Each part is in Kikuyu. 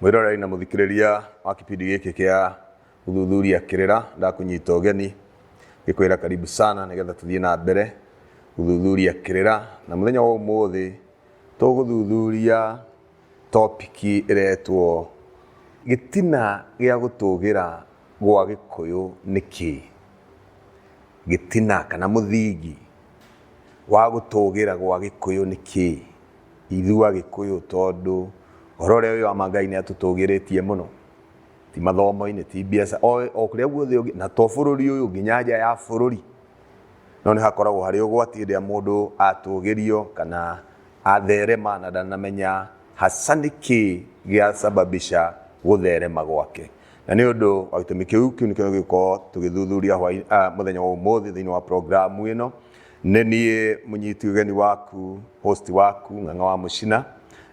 Mwĩroreri na mũthikĩrĩria wa kipindi gĩkĩ kĩa gũthuthuria kĩrĩra ndakũnyita ũgeni ngĩkwĩra karibu sana nĩgetha tũthiĩ na mbere gũthuthuria kĩrĩra na mũthenya wa ũmũthĩ tũgũthuthuria topiki ĩretwo gĩtina gĩa gũtũgĩra gwa gĩkũyũ nĩ kĩĩ gĩtina kana mũthingi wa gũtũgĩra gwa gĩkũyũ nĩ kĩĩ Ithuĩ Agĩkũyũ tondũ ũhoro ũrĩa wĩ wa ma Ngai nĩ atũtũgĩrĩtie mũno, ti mathomo-inĩ, ti mbiacara, o kũrĩa guothe ũngĩ, na to bũrũri ũyũ, nginya nja ya bũrũri. No nĩ hakoragwo harĩ ũgwati hĩndĩ ĩrĩa mũndũ atũgĩrio kana atherema na ndanamenya haca nĩ kĩĩ gĩa sababica gũtherema gwake. Na nĩ ũndũ wa gĩtũmi kĩu, kĩu nĩkĩo tũgũkorwo tũgĩthuthuria mũthenya wa ũmũthĩ thĩinĩ wa programu ĩno. Nĩ niĩ mũnyiti ũgeni waku, host waku, Ng'ang'a wa Mũcina,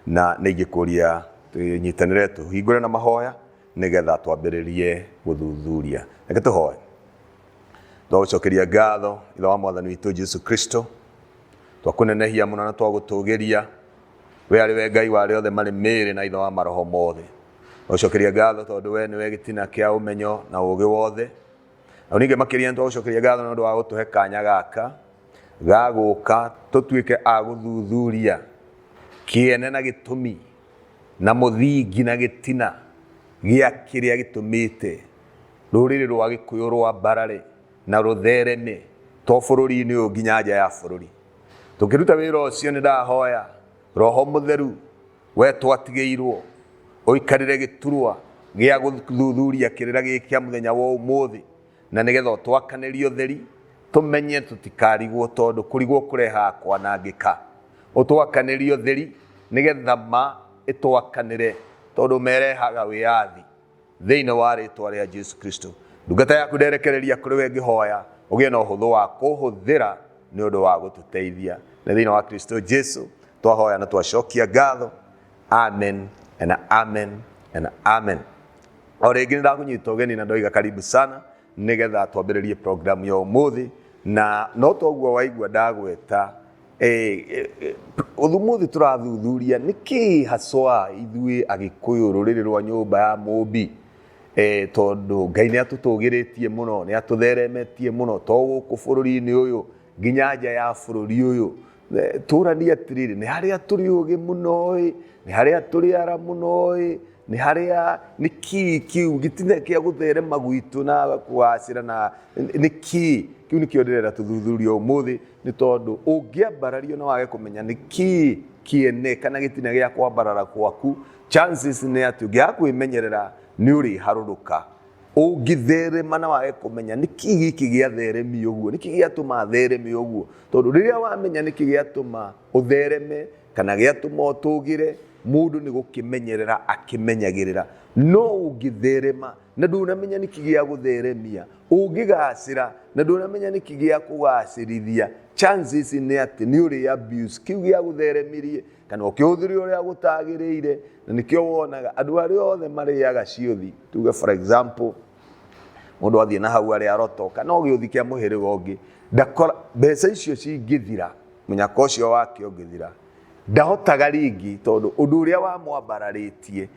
na nĩ ingĩkũria tũnyitanĩre tũhingũre na mahoya nĩgetha twambĩrĩrie gũthuthuria. Reke tũhoe. Twagũcokeria ngatho, Ithe wa Mwathani witũ Jesu Kristo, twakũnenehia mũno na twagũtũgĩria. We arĩ we Ngai wa arĩa othe marĩ mĩĩrĩ na Ithe wa maroho mothe. Twagũcokeria ngatho tondũ we nĩwe gĩtina kĩa ũmenyo na ũũgĩ wothe. na ningĩ makĩria nĩtwagũcokeria ngatho nĩ ũndũ wa gũtũhe kanya gaka ga gũka tũtuĩke a gũthuthuria kĩene na gĩtũmi na mũthingi na gĩtina gĩa kĩrĩa gĩtũmĩte rũrĩrĩ rwa gĩkũyũ rwa mbarare na rũthereme to bũrũri-inĩ ũyũ nginya nja ya bũrũri tũkĩruta wĩra ũcio nĩ ndahoya roho mũtheru we twatigĩirwo ũikarire gĩturwa gĩa gũthuthuria kĩrĩra gĩkĩ kĩa mũthenya wa ũmũthĩ na nĩgetha ũtwakanĩrie ũtheri tũmenye tũtikarigwo tondũ kũrigwo kũrehaga kwanangĩka ũtwakanĩrie ũtheri nĩgetha ma ĩtwakanĩre tondũ merehaga wĩyathi thĩinĩ wa rĩtwa rĩa Jesu Kristo. Ndungata yaku nderekereria kũrĩ we ngĩhoya ũgĩe na ũhũthũ wa kũhũthĩra nĩ ũndũ wa gũtũteithia. Nĩ thĩinĩ wa Kristo Jesu twahoya na twacokia ngatho. Amen and amen and amen. O rĩngĩ nĩ ndakũnyita ũgeni na ndoiga karibu sana nĩgetha twambĩrĩrie programu ya ũmũthĩ na no toguo waigua ndagweta Eh, eh, eh, Ũthumuthi tũrathuthuria nĩ kĩĩ haswa ithuĩ Agĩkũyũ rũrĩrĩ rwa nyũmba ya mũmbi eh, tondũ Ngai nĩ atũtũgĩrĩtie mũno nĩ atũtheremetie mũno to gũkũ bũrũri-inĩ ũyũ nginya nja ya bũrũri ũyũ Eh, tũranie atĩrĩrĩ nĩ harĩa tũrĩ ũgĩ mũno ĩ nĩ harĩa tũrĩ ara mũno ĩ nĩ harĩa nĩ kĩĩ kĩu gĩtina kĩa gũtherema gwitũ na kũgacĩra na nĩ kĩĩ kĩu nĩkĩo ndĩrenda tũthuthurie ũmũthĩ nĩ tondũ ũngĩambarario na wage kũmenya nĩ kĩĩ kĩene kana gĩtina gĩa kwambarara gwaku chances nĩ atĩ ũngĩaga kwĩmenyerera nĩ ũrĩharũrũka ũngĩtherema na wage kũmenya nĩ kĩĩ gĩkĩ gĩatheremi ũguo nĩ kĩĩ gĩatũma thereme ũguo tondũ rĩrĩa wamenya nĩ kĩĩ gĩatũma ũthereme kana gĩatũma ũtũgĩre mũndũ nĩ gũkĩmenyerera akĩmenyagĩrĩra no ũngĩtherema na ndũnamenya nĩkĩ gĩa gũtheremia ũngĩgacĩra na ndũnamenya nĩkĩ gĩa kũgacĩrithia chances nĩ atĩ nĩ ũrĩ abuse kĩu gĩa gũtheremirie kana ũkĩhũthĩre ũrĩa gũtagĩrĩire na nĩkĩo wonaga andũ arĩa othe marĩaga ciothi tuge for example mũndũ athiĩ na hau arĩa roto kana ũgĩũthi kĩa mũhĩrĩga ũngĩ ndakora mbeca icio cingĩthira mũnyaka ũcio wake ũngĩthira ndahotaga rĩngĩ tondũ ũndũ ũrĩa wamwambararĩtie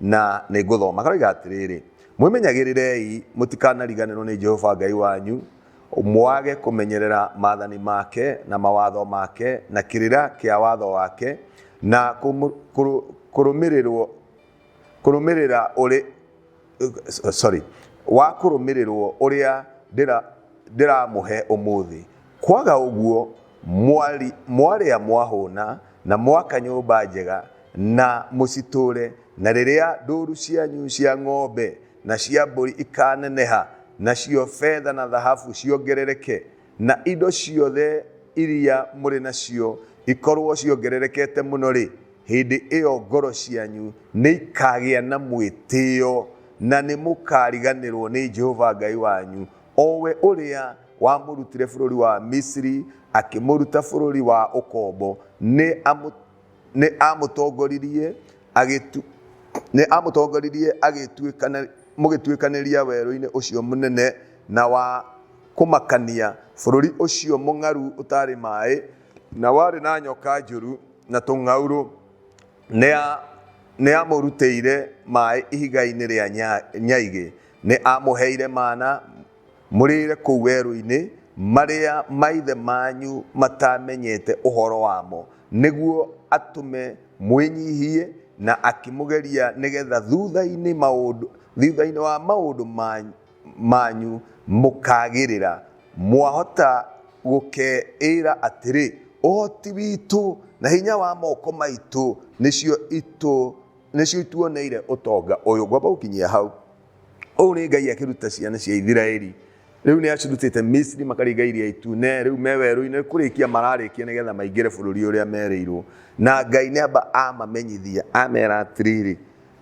Na nĩngũthoma karoiga atĩrĩrĩ, Mwĩmenyagĩrĩrei mũtikanariganĩrwo nĩ Jehova Ngai wanyu, mwage kũmenyerera maathani make na mawatho make na kĩrĩra kĩa watho wake na kũmũ- kũrũ- kũrũmĩrĩrwo kũrũmĩrĩra ũrĩ sorry, wa kũrũmĩrĩrwo ũrĩa ndĩra- ndĩramũhe ũmũthĩ, Kwaga ũguo mwari, mwarĩa mwahũna na mwaka nyũmba njega na mũcitũũre, na rĩrĩa ndũũru cianyu cia ng'ombe na cia mbũri ikaaneneha, nacio betha na thahabu ciongerereke, na indo ciothe iria mũrĩ nacio ikorũo ciongererekete mũno-rĩ, hĩndĩ ĩyo ngoro cianyu nĩ ikaagĩa na mwĩtĩo, na nĩ mũkaariganĩrũo nĩ Jehova Ngai wanyu, o we ũrĩa wamũrutire bũrũri wa Misiri akĩmũruta bũrũri wa ũkombo, nĩ amũ- nĩ amũtongoririe agĩtu- nĩ amũtongoririe agĩtuĩkana- mũgĩtuĩkanĩria werũ-inĩ ũcio mũnene na wa kũmakania, bũrũri ũcio mũng'aru ũtarĩ maĩ, na warĩ na nyoka njũru na tũng'aurũ, nĩ a- nĩ amũrutĩire maĩ ihiga-inĩ rĩa nya- nyaigĩ, nĩ amũheire mana Mũrĩĩre kũu werũ-inĩ marĩa maithe manyu mataamenyete ũhoro wamo, nĩguo atũme mwĩnyiihie, na akĩmũgeria nĩ getha thutha-inĩ wa maũndũ manyu mũkaagĩrĩra, mwahota gũkeĩĩra atĩrĩ, Ũhoti witũ na hinya wa moko maitũ nĩcio ituoneire ũtonga ũyũ. Ngwamba gũkinyia hau. ũũ nĩ ngai akĩruta ciana cia ithiraeli rĩu nĩ acirutĩte misiri makaringa iria itune rĩu me werũ-inĩ kũrĩkia mararĩkia nĩgetha maingĩre bũrũri ũrĩa merĩirwo na ngai nĩ amba amamenyithia amera atĩrĩrĩ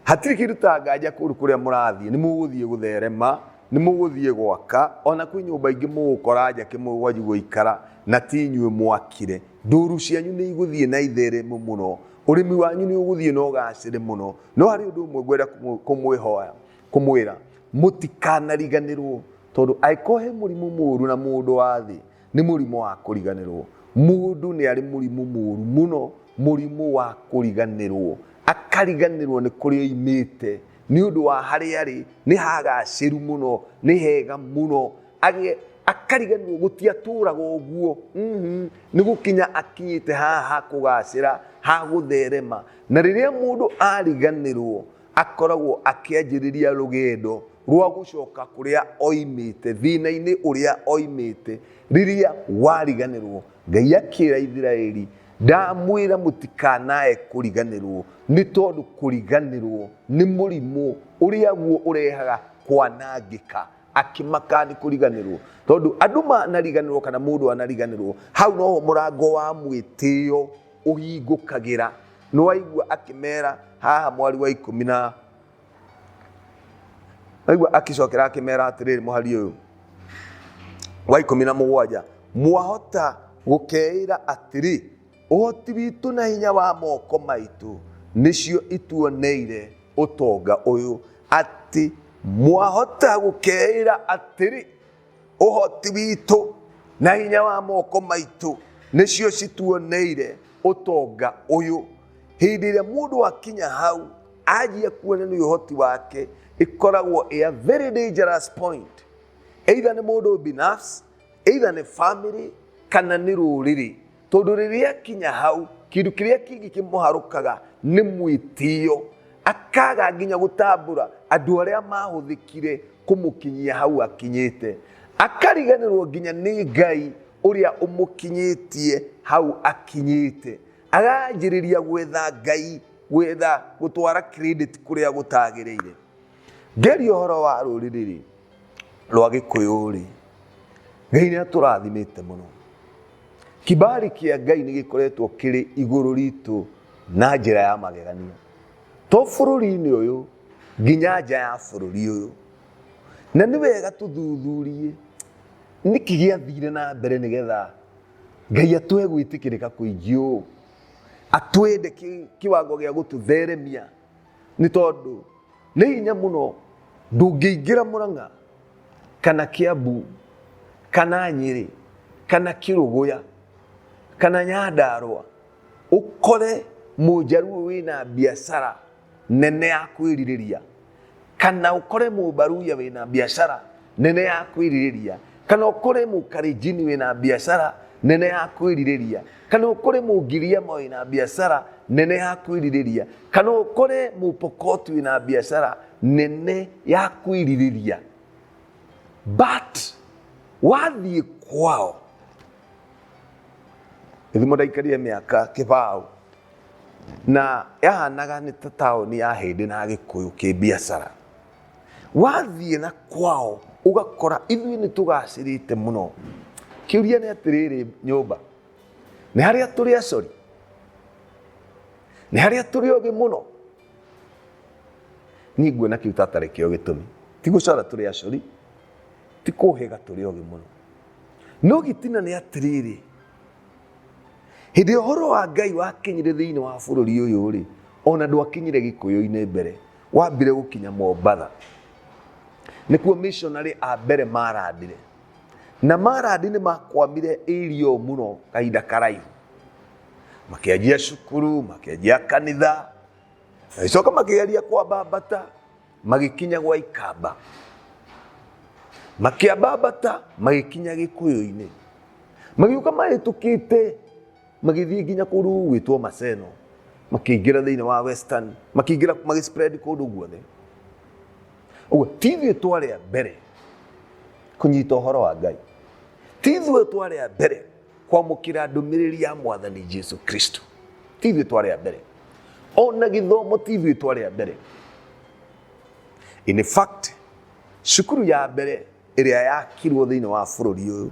hatirĩ kĩndũ ta nganja kũndũ kũrĩa mũrathiĩ nĩ mũgũthiĩ gũtherema nĩ mũgũthiĩ gwaka ona kwĩ nyũmba ingĩ mũgũkora njake mũgwanju gũikara na ti inyuĩ mwakire ndũru cianyu nĩ igũthiĩ na itheremu mũno ũrĩmi wanyu nĩ ũgũthiĩ na ũgacĩre mũno no harĩ ũndũ ũmwe ngwenda kũmwĩ- kũmwĩhoya kũmwĩra mũtikanariganĩrwo tondũ angĩkorwo he mũrimũ mũũru na mũndũ wa thĩ nĩ mũrimũ wa kũriganĩrwo mũndũ nĩ arĩ mũrimũ mũũru mũno mũrimũ wa kũriganĩrwo akariganĩrwo nĩ kũrĩa oimĩte nĩ ũndũ wa harĩa arĩ nĩ hagacĩru mũno nĩ hega mũno Agĩ- akariganĩrwo gũtiatũraga ũguo Mhm. nĩ gũkinya akinyĩte haha ha kũgacĩra ha gũtherema Na rĩrĩa mũndũ ariganĩrwo akoragwo akĩanjĩrĩria rũgendo rwa gũcoka kũrĩa oimĩte, thĩna-inĩ ũrĩa oimĩte. Rĩrĩa wariganĩrwo, Ngai akĩra Ithiraeli, Ndamwĩra mũtikanae kũriganĩrwo, nĩ tondũ kũriganĩrwo nĩ mũrimũ ũrĩa guo ũrehaga kwanangĩka. Akĩmaka nĩ kũriganĩrwo. Tondũ andũ manariganĩrwo kana mũndũ anariganĩrwo, hau noho mũrango wa mwĩtĩo ũhingũkagĩra nĩ waigua akĩmera haha mwari wa ikũmi na waigua akĩcokera akĩmera atĩrĩrĩ mũhari ũyũ wa ikũmi na mũgwanja mwahota gũkeĩra atĩrĩ ũhoti witũ na hinya wa moko maitũ nĩcio ituoneire ũtonga ũyũ atĩ mwahota gũkeĩra atĩrĩ ũhoti witũ na hinya wa moko maitũ nĩcio cituoneire ũtonga ũyũ hĩndĩ ĩrĩa mũndũ akinya hau anjia kuona nĩ ũhoti wake ĩkoragwo ĩ a very dangerous point either nĩ mũndũ binafsi either nĩ family kana nĩ rũrĩrĩ Tondũ rĩrĩa akinya hau, kĩndũ kĩrĩa kĩngĩ kĩmũharũkaga nĩ mwĩtĩo, akaga nginya gũtambũra andũ arĩa mahũthĩkire kũmũkinyia hau akinyĩte. Akariganĩrwo nginya nĩ Ngai ũrĩa ũmũkinyĩtie hau akinyĩte. Aranjĩrĩria gwetha Ngai, gwetha gũtwara credit kũrĩa gũtagĩrĩire. Ngeria ũhoro wa rũrĩrĩ-rĩ, rwa Gĩkũyũ-rĩ, Ngai nĩ atũrathimĩte mũno. Kibali kĩa Ngai nĩ gĩkoretwo kĩrĩ igũrũ ritũ na njĩra ya magegania. To bũrũri-inĩ ũyũ, nginya nja ya bũrũri ũyũ. Na nĩ wega tũthuthurie nĩkĩ gĩathire na mbere nĩ getha Ngai atũhe gwĩtĩkĩrĩka kũingĩ ũũ, atwende kĩwango gĩa gũtũtheremia. nĩ tondũ nĩ hinya mũno ndũngĩingĩra mũrang'a kana kĩambu kana nyĩrĩ kana kĩrũgũya kana nyandarwa ũkore mũjaruo wĩna biacara nene ya kwĩrirĩria kana ũkore mũbaruya wĩna biacara nene ya kwĩrirĩria kana ũkore mũkarinjini wĩ na biacara nene ya kwĩrirĩria kana ũkore mũngiriama wĩ na biacara nene ya kwĩrirĩria kana ũkore mũpokotu wĩ na biacara nene ya kwĩrirĩria but wathiĩ kwao ithimo ndaikarire mĩaka kĩbaũ na yahanaga nĩ ta taũni ya hĩndĩ na gĩkũyũ kĩ biacara wathiĩ na kwao ũgakora ithuĩ nĩ tũgacĩrĩte mũno kĩũria nĩ atĩrĩrĩ nyũmba nĩ harĩa tũrĩ acori nĩ harĩa tũrĩ ogĩ mũno niĩ nguona kĩu tatarĩ kĩo gĩtũmi ti gũcora tũrĩ acori ti kũhĩga tũrĩ ogĩ mũno no gĩtina nĩ atĩrĩrĩ hĩndĩ ĩrĩa ũhoro wa ngai wakinyire thĩinĩ wa bũrũri ũyũ rĩ ona ndwakinyire gĩkũyũ-inĩ mbere wambire gũkinya mombatha nĩkuo missionary a mbere marandire na marandi nĩ makwamire irio mũno kahinda karaihu makĩanjia cukuru makĩanjia kanitha magĩcoka makĩgeria kwambambata magĩkinya gwa ikamba makĩambambata magĩkinya gĩkũyũ-inĩ magĩũka mahĩtũkĩte magĩthiĩ nginya kũrũ gwĩtwo Maseno, makĩingĩra thĩinĩ wa Western, makĩingĩra magĩspread kũndũ guothe. Ũguo ti ithuĩ twarĩ a mbere kũnyita ũhoro wa Ngai, ti ithuĩ twarĩ a mbere kwamũkĩra ndũmĩrĩri ya mwathani Jesu Kristo, ti ithuĩ twarĩ a mbere ona gĩthomo ti ithuĩ twarĩ a mbere. In fact, cukuru ya mbere ĩrĩa yakirwo thĩinĩ wa bũrũri ũyũ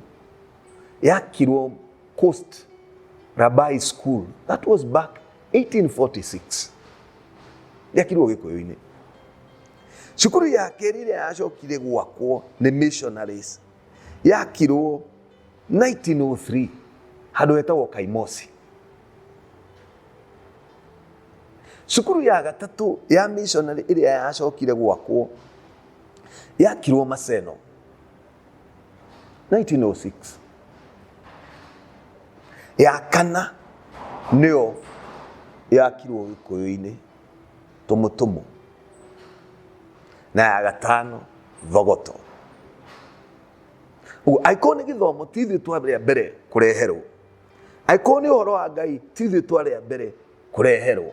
yakirwo Coast Rabai School. That was back 1846. Yakirwo gĩkũyũ-inĩ. Cukuru ya kerĩ ĩrĩa yacokire gwakwo nĩ missionaries yakirwo 1903 handũ hetagwo Kaimosi. Cukuru ya gatatũ ya missionary ĩrĩa yacokire gwakwo yakirwo Maseno. 1906 ya kana nĩyo yakirwo gĩkũyũ-inĩ tũmũtũmũ na ya gatano thogoto ũguo angĩkorwo nĩ gĩthomo ti ithuĩ twarĩa mbere kũreherwo angĩkorwo nĩ ũhoro wa ngai ti ithuĩ twarĩa mbere kũreherwo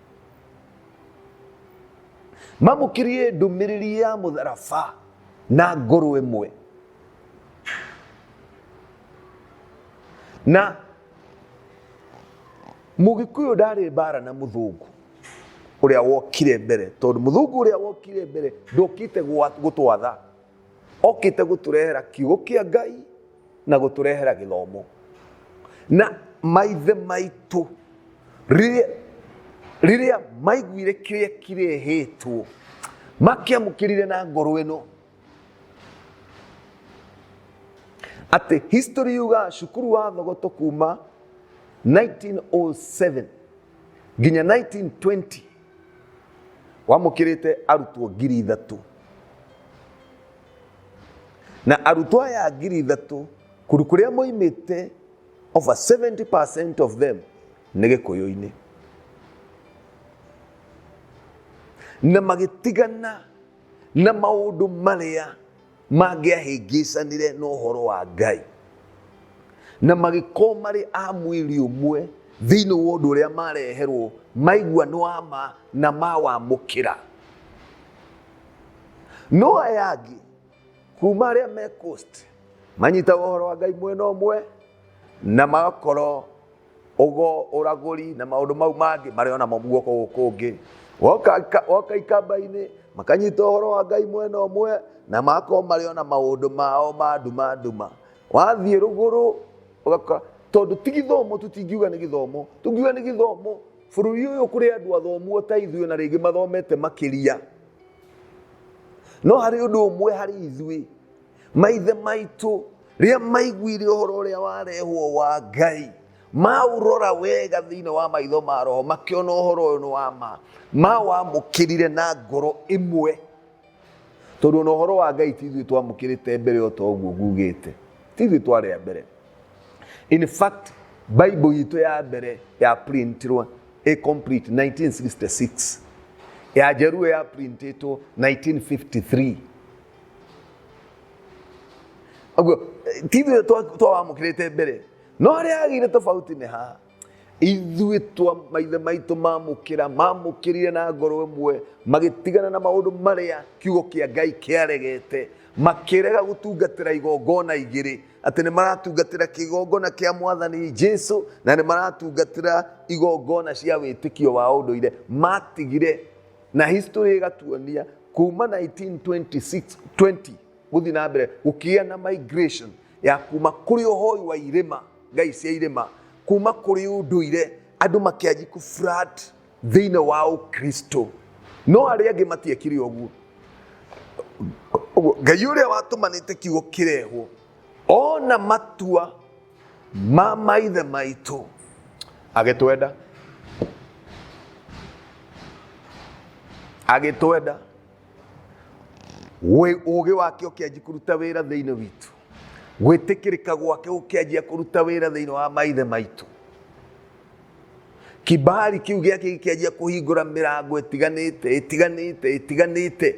mamũkiririe ndũmĩrĩri ya mũtharaba na ngũrũ ĩmwe na mũgĩkũyũ ndarĩ mbara na mũthũngũ ũrĩa wokire mbere tondũ mũthũngũ ũrĩa wokire mbere ndokĩte gwa- gũtwatha okite guturehera kiugo kia ngai na guturehera githomo na maithe maitu riria riria maiguire kiria kirehitwo makiamukirire na ngoro ino ati history yuga cukuru wa thogoto kuma 1907 nginya 1920 wamũkĩrĩte arutwo ngiri ithatũ na arutwo aya ngiri ithatũ kũndũ kũrĩa moimĩte over 70% of them nĩ gĩkũyũ-inĩ na magĩtigana na maũndũ marĩa mangĩahĩngĩcanire na ũhoro wa Ngai na magĩkorwo marĩ a mwĩrĩ ũmwe thĩinĩ wa ũndũ ũrĩa mareherwo maigua nĩ wa ma na mawamũkĩra no aya angĩ kuma arĩa me coast manyitaga ũhoro wa ngai mwena ũmwe na magakorwo ũgo ũragũri na maũndũ mau mangĩ marĩ ona mo guoko gũkũ kũngĩ woka ika- woka ikamba-inĩ makanyita ũhoro wa ngai mwena ũmwe na makorwo marĩ ona maũndũ mao ma nduma nduma wathiĩ rũgũrũ ũgakora tondũ ti gĩthomo tũtingiuga nĩ gĩthomo tũngiuga nĩ gĩthomo bũrũri ũyũ kũrĩ andũ athomuo ta ithuĩ na rĩngĩ mathomete makĩria no harĩ ũndũ ũmwe harĩ ithuĩ maithe maitũ rĩrĩa maiguire ũhoro ũrĩa warehwo wa ngai maurora wega thĩinĩ wa maitho ma roho makĩona ũhoro ũyũ nĩ wa ma mawamũkĩrire na ngoro ĩmwe tondũ na ũhoro wa ngai ti ithuĩ twamũkĩrĩte mbere o ta ũguo ngugĩte ti ithuĩ twarĩa mbere in fact bible itũ ya mbere ya printirwo ĩ complete 1966 ya njeruo ya printĩtwo 1953 Ũguo, ti ithuĩ twa- twawamũkĩrĩte mbere no harĩa hagĩire tofauti nĩ haha ithuĩ twa maithe maitũ mamũkĩra mamũkĩrire na ngoro ĩmwe magĩtigana na maũndũ marĩa kiugo kĩa ngai kĩaregete makĩrega gũtungatĩra igongona igĩrĩ atĩ nĩ maratungatĩra kĩgongona kĩa mwathani jesu na nĩ maratungatĩra igongona cia wĩtĩkio wa ũndũire matigire na history ĩgatuonia kuma 1926 20 gũthiĩ na mbere gũkĩgĩa na migration ya kuma kũrĩ ũhoi wa irĩma ngai cia irĩma kuma kũrĩ ũndũire andũ makĩanji kũfrat thĩinĩ wa ũkristo no arĩa angĩ matiekire ũguo Ũguo, ngai ũrĩa watũmanĩte kiugo kĩrehwo ona matua ma maithe maitũ agĩtwenda agĩtwenda Wĩ- ũũgĩ wake ũkĩanji kũruta wĩra thĩinĩ witũ gwĩtĩkĩrĩka gwake gũkĩanjia kũruta wĩra thĩinĩ wa maithe maitũ kibali kĩu gĩake gĩkĩanjia kũhingũra mĩrango ĩtiganĩte ĩtiganĩte ĩtiganĩte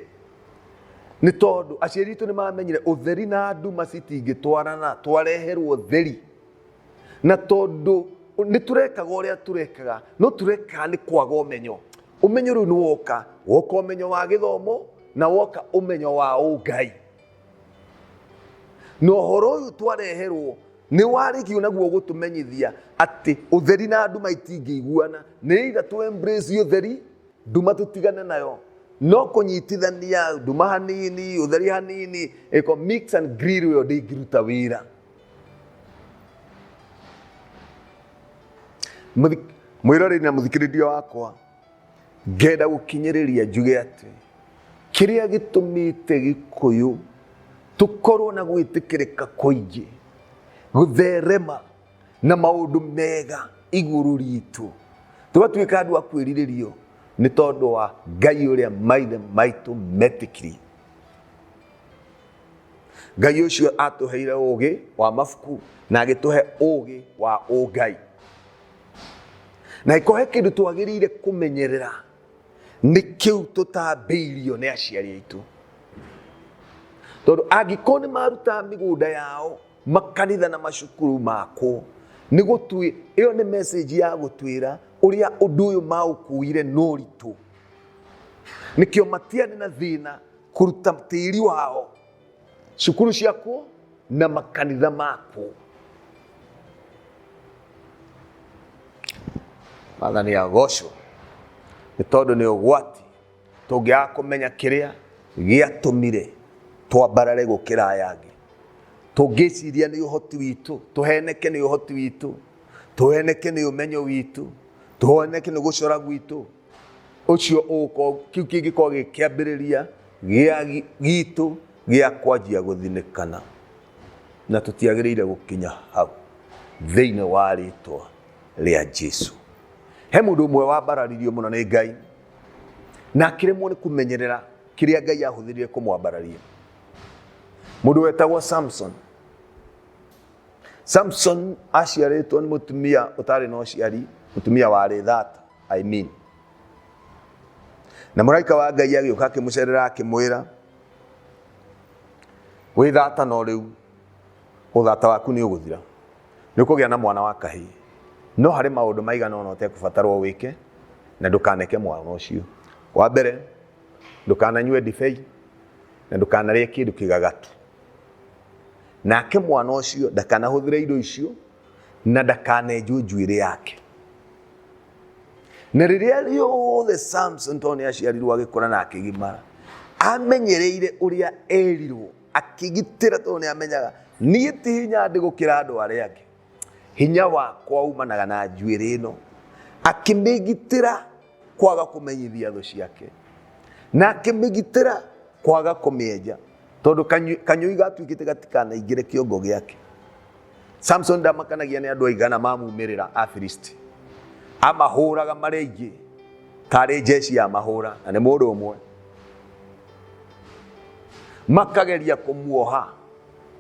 nĩ tondũ aciari itũ nĩ mamenyire ũtheri na nduma citingĩtwarana twareherwo theri na tondũ nĩ tũrekaga ũrĩa tũrekaga no tũrekaga nĩ kwaga ũmenyo ũmenyo rĩu nĩ woka woka ũmenyo wa gĩthomo na woka ũmenyo wa ũngai na ũhoro ũyũ twareherwo nĩ warĩkio naguo gũtũmenyithia atĩ ũtheri na nduma itingĩiguana nĩ either tũ embrace ũtheri nduma tũtigane nayo no kũnyitithania nduma hanini ũtheri hanini ĩko mix and grill ĩyo ndĩngĩruta wĩra Mũthi- mwĩroreri na mũthikĩrĩria wakwa ngenda gũkinyĩrĩria njuge atĩ kĩrĩa gĩtũmĩte gĩkũyũ tũkorwo na gwĩtĩkĩrĩka kũingĩ gũtherema na maũndũ mega igũrũ ritũ tũgatuĩka andũ a kwĩrirĩrio nĩ tondũ wa ngai ũrĩa maithe maitũ metĩkirie ngai ũcio atũheire ũũgĩ wa mabuku na agĩtũhe ũũgĩ wa ũngai na ĩkorwo he kĩndũ twagĩrĩire kũmenyerera nĩ kĩu tũtambĩirio nĩ aciari aitũ tondũ angĩkorwo nĩ maruta mĩgũnda yao makanitha na macukuru makwo nĩ gũtwĩ ĩyo nĩ message ya gũtwĩra ũrĩa ũndũ ũyũ maũkuire noritũ nĩkĩo matiarĩ na thĩna kũruta tĩri wao cukuru ciakwo na makanitha makwo mathani ya gocwo nĩ tondũ nĩ ũgwati Tũngĩaga kũmenya kĩrĩa gĩatũmire twambarare gũkĩra aya angĩ, tũngĩciria nĩ ũhoti witũ, tũheneke nĩ ũhoti witũ, tũheneke nĩ ũmenyo witũ, tũheneke nĩ gũcora gwitũ, ũcio ũgũkorwo, kĩu kĩngĩkorwo gĩ kĩambĩrĩria gĩa gi- gitũ gĩa kwanjia gũthinĩkana, na tũtiagĩrĩire gũkinya hau thĩinĩ wa rĩtwa rĩa Jesu. He mũndũ ũmwe wambararirio mũno nĩ Ngai, na akĩremwo nĩ kũmenyerera kĩrĩa ngai ahũthĩrire kũmwambararia mũndũ wetagwo samson samson aciarĩtwo nĩ mũtumia ũtarĩ na ũciari mũtumia warĩ thata I mean. na mũraika wa ngai agĩũka akĩmũcerera akĩmwĩra wĩ thata no rĩu Ũthata waku nĩ ũgũthira. Nĩ ũkũgĩa na mwana wa kahĩĩ. No harĩ maũndũ maigana ũna ũtekũbatarwo wĩke, na ndũkaneke mwana ũcio. Wa mbere, ndũkananyue ndibei, na ndũkanarĩe kĩndũ kĩgagatu. Nake mwana ũcio ndakanahũthĩre indo icio, na ndakanenjwo njuĩrĩ yake. Na rĩrĩa rĩothe Samson tondũ nĩ aciarirwo agĩkũra na akĩgimara, amenyereire ũrĩa erirwo. akĩgitĩra tondũ nĩ amenyaga niĩ ti hinya ndĩ gũkĩra andũ arĩa angĩ hinya wakwa umanaga na njuĩrĩ ĩno akĩmĩgitĩra kwaga kũmenyithia thũ ciake na akĩmĩgitĩra kwaga kũmĩenja tondũ kanyũi gatuĩkĩte gatikanaingĩre kĩongo gĩake samusoni ndamakanagia nĩ andũ aigana mamumĩrĩra afilisti amahũraga marĩ aingĩ tarĩ njeci ya mahũra na nĩ mũndũ ũmwe makageria kũmuoha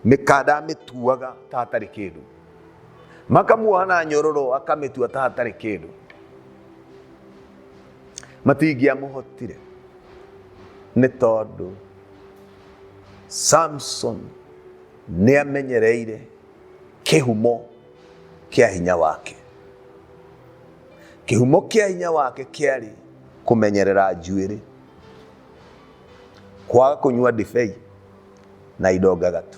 mĩkanda amĩtuaga ta hatarĩ kĩndũ makamuoha na nyororo akamĩtua ta hatarĩ kĩndũ matingĩamũhotire nĩ tondũ samson nĩ amenyereire kĩhumo kĩa hinya wake kĩhumo kĩa hinya wake kĩarĩ kũmenyerera njuĩrĩ kwaga kũnyua ndibei na indo ngagatu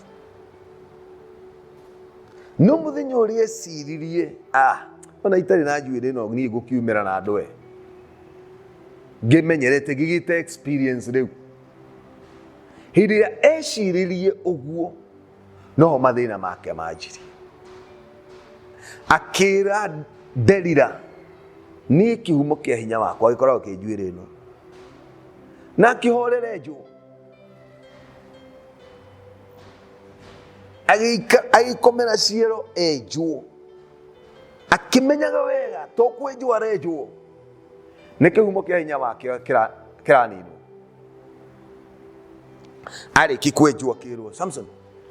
no mũthenya ũrĩa eciririe ah, ona itarĩ na njuĩrĩ no niĩ ngũkiumĩra na ndwe ngĩmenyerete ngĩgĩte experience rĩu hĩndĩ ĩrĩa ecirĩrie ũguo noho mathĩna make manjirie akĩra nderira niĩ kĩhumo kĩa hinya wakwa gĩkoragwo kĩ njuĩrĩ ĩno na akĩhorere njũ agĩkomera ciero enjwo akĩmenyaga wega to kwenjwo arenjwo nĩ kĩhumo kĩa hinya wakĩo kĩra- kĩraninwo arĩki kwenjwo kĩrwo samson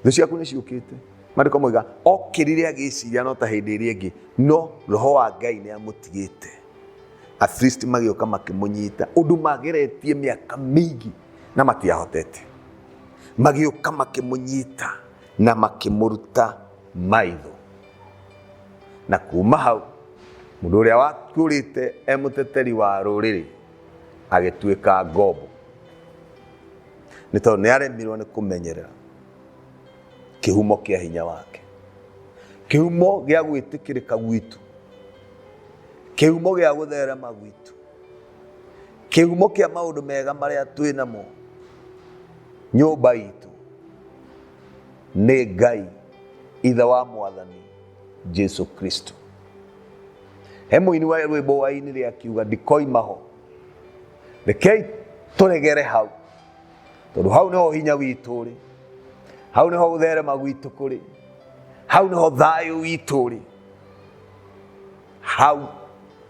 thũ ciaku nĩ ciũkĩte marĩko moiga okĩrire agĩciria no ta hĩndĩ ĩrĩa ĩngĩ no roho wa ngai nĩ amũtigĩte afilisti magĩũka makĩmũnyita ũndũ mageretie mĩaka mĩingĩ na matiahotete magĩũka makĩmũnyita na makĩmũruta maitho na kuma hau mũndũ ũrĩa wakũrĩte e mũteteri wa rũrĩrĩ agĩtuĩka ngombo nĩ tondũ nĩ aremirwo nĩ kũmenyerera kĩhumo kĩa hinya wake kĩhumo gĩa gwĩtĩkĩrĩka gwitũ kĩhumo gĩa gũtherema gwitũ kĩhumo kĩa maũndũ mega marĩa twĩ namo nyũmba itũ nĩ ngai ithe wa mwathani jesu kristo he mũini wa rwĩmbo wa ini rĩa kiuga ndikoima ho rekei tũregere hau tondũ hau nĩho hinya witũ rĩ hau nĩho gũtherema gwitũ kũrĩ hau nĩho thayũ witũ rĩ hau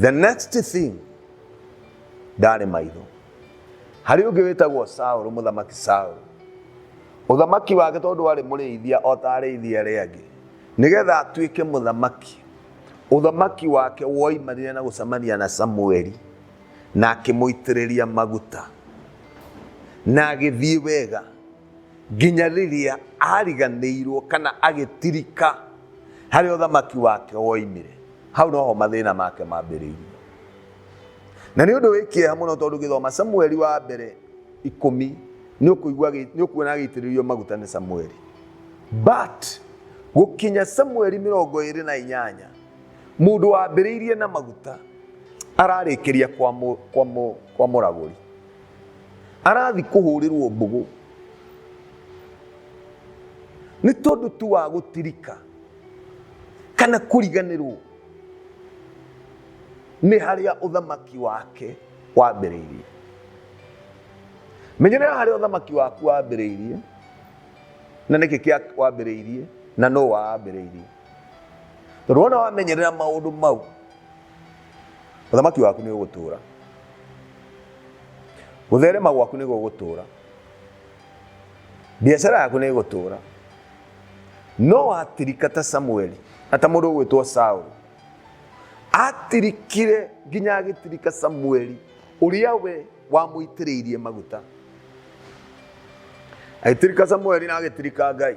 the next thing ndarĩ maitho harĩ ũngĩ wĩtagwo saũlũ mũthamaki saũlũ ũthamaki wake tondũ warĩ mũrĩithia o ta arĩithia arĩa angĩ nĩgetha atuĩke mũthamaki ũthamaki wake woimanire na gũcemania na samueli na akĩmũitĩrĩria maguta na agĩthiĩ wega nginya rĩrĩa ariganĩirwo kana agĩtirika harĩ ũthamaki wake woimire hau noho mathĩna make mambĩrĩirie na nĩ ũndũ wĩ kĩeha mũno tondũ gĩthoma samueli wa mbere ikũmi nĩ ũkũigua nĩ ũkuona agĩitĩrĩrio maguta nĩ samueli but gũkinya samueli mĩrongo ĩrĩ na inyanya mũndũ wambĩrĩirie na maguta ararĩkĩria kwa mũragũri arathi kũhũrĩrwo mbũgũ nĩ tondũ tu wa gũtirika kana kũriganĩrwo nĩ harĩa ũthamaki wake wambĩrĩirie menyerera harĩa ũthamaki waku wambĩrĩirie na nĩkĩ kĩa wambĩrĩirie na no wambĩrĩirie tondũ wona wamenyerera maũndũ mau Ũthamaki waku nĩ ũgũtũũra. Gũtherema gwaku nĩ gũgũtũũra. Biacara yaku nĩ ĩgũtũũra. No watirika ta Samueli, na ta mũndũ ũgwĩtwo Saũlũ. Atirikire nginya agĩtirika Samueli, ũrĩa we wamũitĩrĩirie maguta. Agĩtirika Samueli na agĩtirika Ngai.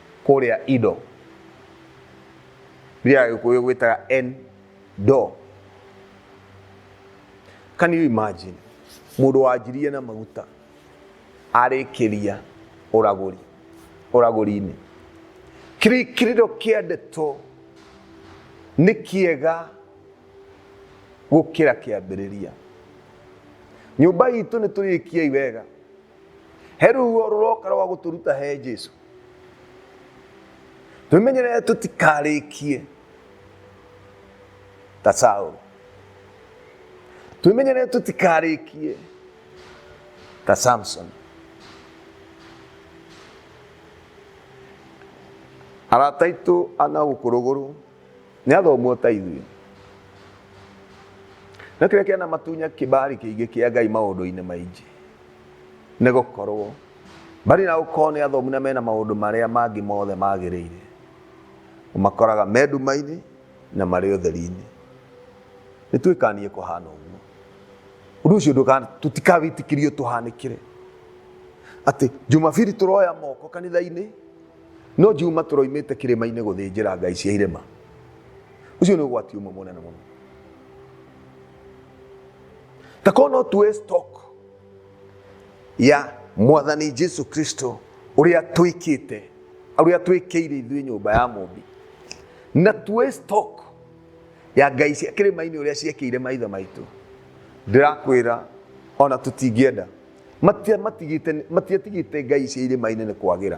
kũrĩa indo iria agĩkũyũ gwĩtaga en do can you imagine mũndũ wanjirie na maguta arĩkĩria ũragũri ũragũri-inĩ Kiri- kiriro kĩa ndeto nĩ kĩega gũkĩra kĩambĩrĩria nyũmba itũ nĩ tũrĩkiai wega he ruo rũroka rwa gũtũruta he jesu twĩmenyerere tũtikarĩkie ta saũlũ twĩmenyerere tũtikarĩkie ta samson arata aitũ ana gũkũrũgũrũ nĩ athomwo ta ithuĩ na kĩrĩa kĩana matunya kĩbari kĩingĩ kĩa ngai maũndũ-inĩ maingĩ Nĩ gũkorũo, mbali na gũkorũo nĩ athomu na mena maũndũ marĩa mangĩ mothe magĩrĩire, ũmakoraga me nduma-inĩ na marĩ ũtheri-inĩ. Nĩ twĩkanie kũhana ũguo. Ũndũ ũcio ndũka- tũtikawĩtĩkĩrie ũtũhanĩkĩre. Atĩ Jumabiri tũroya moko kanitha-inĩ, no Juma tũroimĩte kĩrĩma-inĩ gũthĩnjĩra ngai cia irĩma. Ũcio nĩ ũgwati ũmwe mũnene mũno. ta korwo no tuoe stock ya mwathani jesu kristo ũrĩa twĩkĩte ũrĩa twĩkĩire ithuĩ nyũmba ya mũmbi na tuoe stock ya ngai cia kĩrĩma-inĩ ũrĩa ciekĩire maithe maitũ ndĩrakwĩra ona tũtingĩenda Matia- matigĩte- matiatigĩte ngai cia irĩma-inĩ nĩ kwagĩra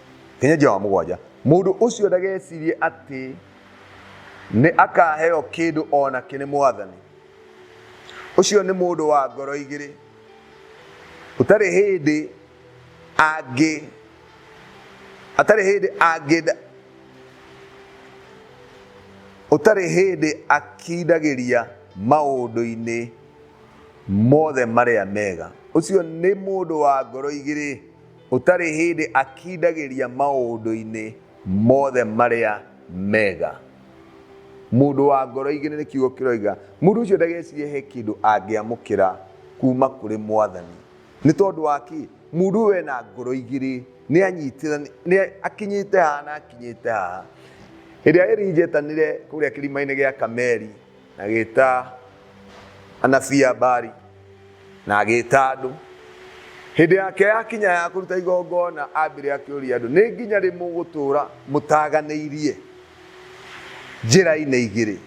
Hinya wa mũgwanja. Mũndũ ũcio ndagecirie atĩ nĩ akaheo kĩndũ o nakĩ nĩ Mwathani. Ũcio nĩ mũndũ wa ngoro igĩrĩ. Ũtarĩ hĩndĩ angĩ atarĩ hĩndĩ angĩ ũtarĩ hĩndĩ akindagĩria maũndũ-inĩ mothe marĩa mega. Ũcio nĩ mũndũ wa ngoro igĩrĩ. Ũtarĩ hĩndĩ akindagĩria maũndũ-inĩ mothe marĩa mega. Mũndũ wa ngoro igĩrĩ nĩ kiugo kĩroiga. Mũndũ ũcio ndagecirie he kĩndũ angĩamũkĩra kuuma kũrĩ Mwathani. Nĩ tondũ wa kĩ? Mũndũ ũyũ ena ngoro igĩrĩ, nĩ anyitĩrĩire, akinyĩte haha na akinyĩte haha. Hĩndĩ ĩrĩa Elijah etanire kũrĩa kĩrima-inĩ gĩa Kameri, Na agĩĩta anabii a Baali, na agĩĩta andũ. Hĩndĩ yake yakinya ya kũruta igongona, aambire akĩũria andũ, Nĩ nginya rĩ mũgũtũũra mũtaaganĩirie njĩra-inĩ igĩrĩ,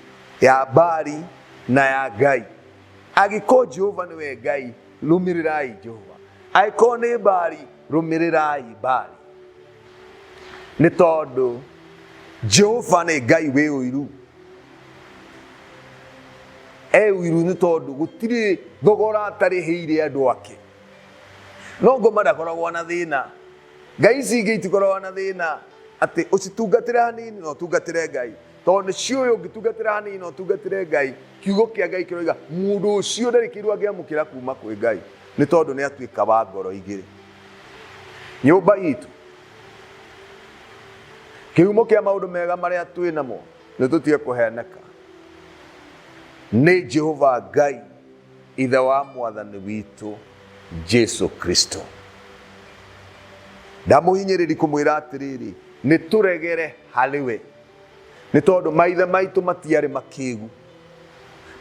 ya Baali na ya Ngai? Angĩkorwo Jehova nĩwe Ngai, rũmĩrĩrai Jehova, angĩkorwo nĩ Baali, rũmĩrĩrai Baali. nĩ tondũ jehova nĩ ngai wĩ ũiru e ũiru nĩ tondũ gũtirĩ thogora atarĩhĩire andũ ake no ngoma ndakoragwo na thĩna ngai ici ingĩ itikoragwo na thĩna atĩ ũcitungatĩre hanini na ũtungatĩre ngai tondũ nĩ ciũĩ ũngĩtungatĩra hanini na ũtungatĩre ngai kiugo kĩa ngai kĩroiga mũndũ ũcio ndarĩ kĩndũ angĩamũkĩra kuma kwĩ ngai nĩ tondũ nĩ atuĩka wa ngoro igĩrĩ nyũmba itũ kĩhumo kĩa maũndũ mega marĩa twĩ namo nĩ tũtige kũheneka nĩ jehova ngai ithe wa mwathani witũ jesu kristo ndamũhinyĩrĩri kũmwĩra atĩrĩrĩ nĩ tũregere harĩ we nĩ tondũ maithe maitũ matiarĩ makĩgu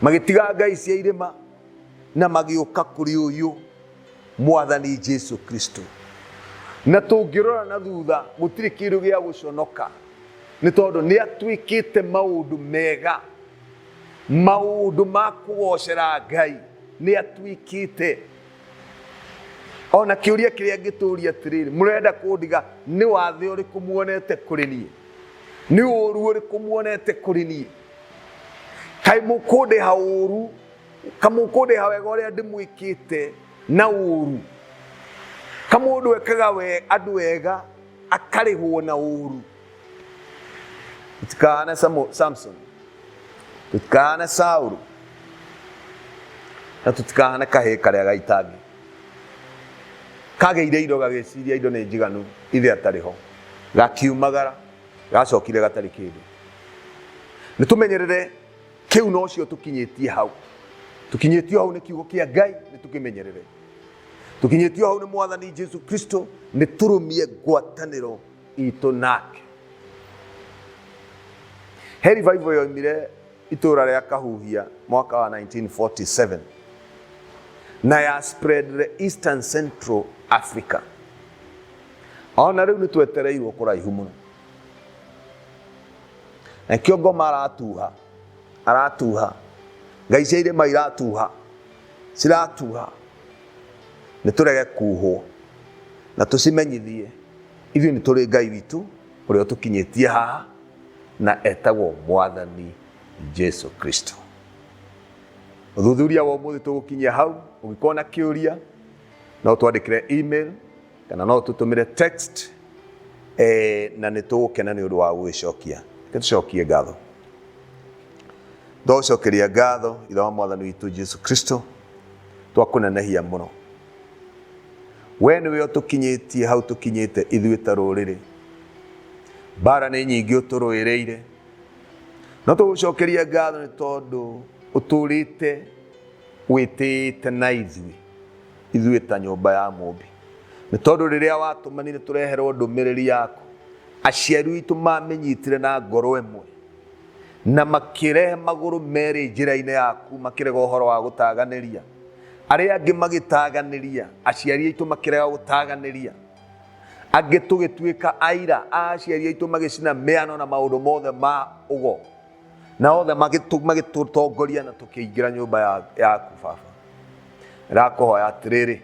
magĩtiga ngai cia irĩma na magĩũka kũrĩ ũyũ mwathani jesu kristo na tũngĩrora na thutha gũtirĩ kĩndũ gĩa gũconoka nĩ tondũ nĩ atuĩkĩte maũndũ mega maũndũ ma kũgocera ngai nĩ atuĩkĩte ona kĩũria kĩrĩa ngĩtũria atĩrĩrĩ mũrenda kũndiga nĩ wathe ũrĩkũ muonete kũrĩ niĩ nĩ ũru ũrĩkũ muonete kũrĩ niĩ kaĩ mũkũndĩha ũru kamũkũndĩha wega ũrĩa ndĩmwĩkĩte na ũru kamũndũ ekaga we andũ wega akarĩhwo na ũru tũtikahana Samu- samson tũtikahana saũrũ na tũtikahana kahĩĩ karĩa gaitangi kagĩire indo gagĩciria indo nĩ njiganu ithe atarĩ ho gakiumagara gacokire gatarĩ kĩndũ nĩ tũmenyerere Kĩu nocio tũkinyĩtie hau. Tũkinyĩtio hau nĩ kiugo kĩa Ngai nĩ tũkĩmenyerere. Tũkinyĩtio hau nĩ mwathani Jesu Kristo nĩ tũrũmie ngwatanĩro itũ nake. He revival yoimire itũra rĩa Kahuhia mwaka wa 1947 na ya spread the Eastern Central Africa. Ona rĩu nĩ twetereirwo kũraihu mũno. nakio ngoma aratuha aratuha ngai cia irĩma iratuha ciratuha nĩ tũrege kuhwo na tũcimenyithie ithuĩ nĩ tũrĩ ngai witũ ũrĩa ũtũkinyĩtie haha na etagwo mwathani jesu kristo ũthuthuria wa ũmũthĩ tũgũkinyia hau ũngĩkorwo na kĩũria no twandĩkĩre email kana no tũtũmĩre text eh, na nĩ tũgũkena nĩ ũndũ wa gũgĩcokia Reke tũcokie ngatho twagũcokeria ngatho ithe wa mwathani witũ jesu kristo twakũnenehia mũno we nĩwe ũtũkinyĩtie hau tũkinyĩte ithuĩ ta rũrĩrĩ mbara nĩ nyingĩ ũtũrũĩrĩire no tũgũcokeria ngatho nĩ tondũ ũtũrĩte wĩtĩĩte na ithuĩ ithuĩ ta nyũmba ya Mũmbi. Nĩ tondũ rĩrĩa watũmanire tũreherwo ndũmĩrĩri yaku, aciari witũ maamĩnyitire na ngoro ĩmwe, na makĩrehe magũrũ merĩ njĩra-inĩ yaku, makĩrega ũhoro wa gũtaganĩria. Arĩa angĩ magĩtaganĩria, aciari aitũ makĩrega gũtaganĩria. Angĩ tũgĩtuĩka aira a aciari aitũ magĩcina mĩano na maũndũ mothe ma ũgo. na othe magĩtũ- magĩtũtongoria na tũkĩingĩra nyũmba ya- yaku baba ndakũhoya atĩrĩrĩ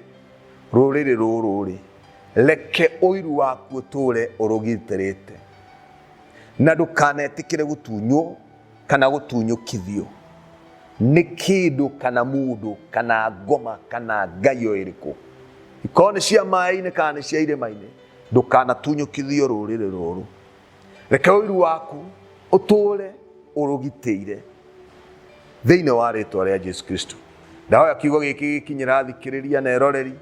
rũrĩrĩ rũrũ rĩ reke ũiru waku ũtũre ũrũgitĩrĩte na ndũkanetĩkĩre gũtunywo kana gũtunyũkithio nĩ kĩndũ kana mũndũ kana ngoma kana ngai o ĩrĩkũ ikorwo nĩ cia maĩ-inĩ kana nĩ cia irĩma-inĩ ndũkanatunyũkithio rũrĩrĩ rũrũ reke ũiru waku ũtũũre ũrũgitĩire thĩinĩ wa rĩtwa rĩa jesu kristo ndahoya kiugo gĩkĩ gĩkinyĩra athikĩrĩria na eroreri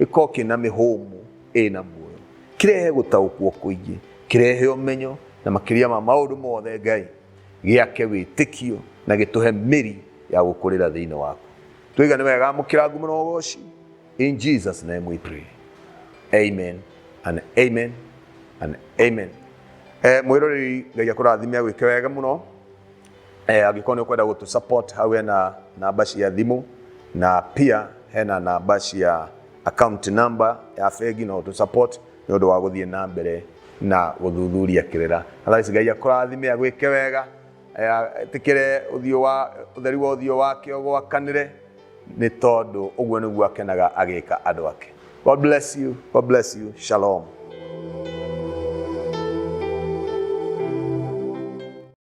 gĩkorwo kĩna mĩhũmũ ĩna muoyo kĩrehe gũtaũkwo kũingĩ kĩrehe ũmenyo na makĩria ma maũndũ mothe ngai gĩake wĩtĩkio na gĩtũhe mĩri ya gũkũrĩra thĩinĩ waku tũigane wega amũkĩra ngumo na ũgoci In Jesus' name we pray. Amen and amen and amen. Eh, mwiroreri ngai akurathime agwike wega muno eh, angĩkorwo nĩ ũkwenda gũtũ support hau hena namba cia thimũ na pia hena namba cia account number ya bengi no ũtũ support nĩ ũndũ wa gũthiĩ na mbere na gũthuthuria kĩrĩra otherwise ngai akũrathime agwĩke wega eh, ĩtĩkĩre ũthiũ wa ũtheri wa ũthiũ wake ũgwakanĩre nĩ tondũ ũguo nĩguo akenaga agĩka andũ ake god bless you god bless you shalom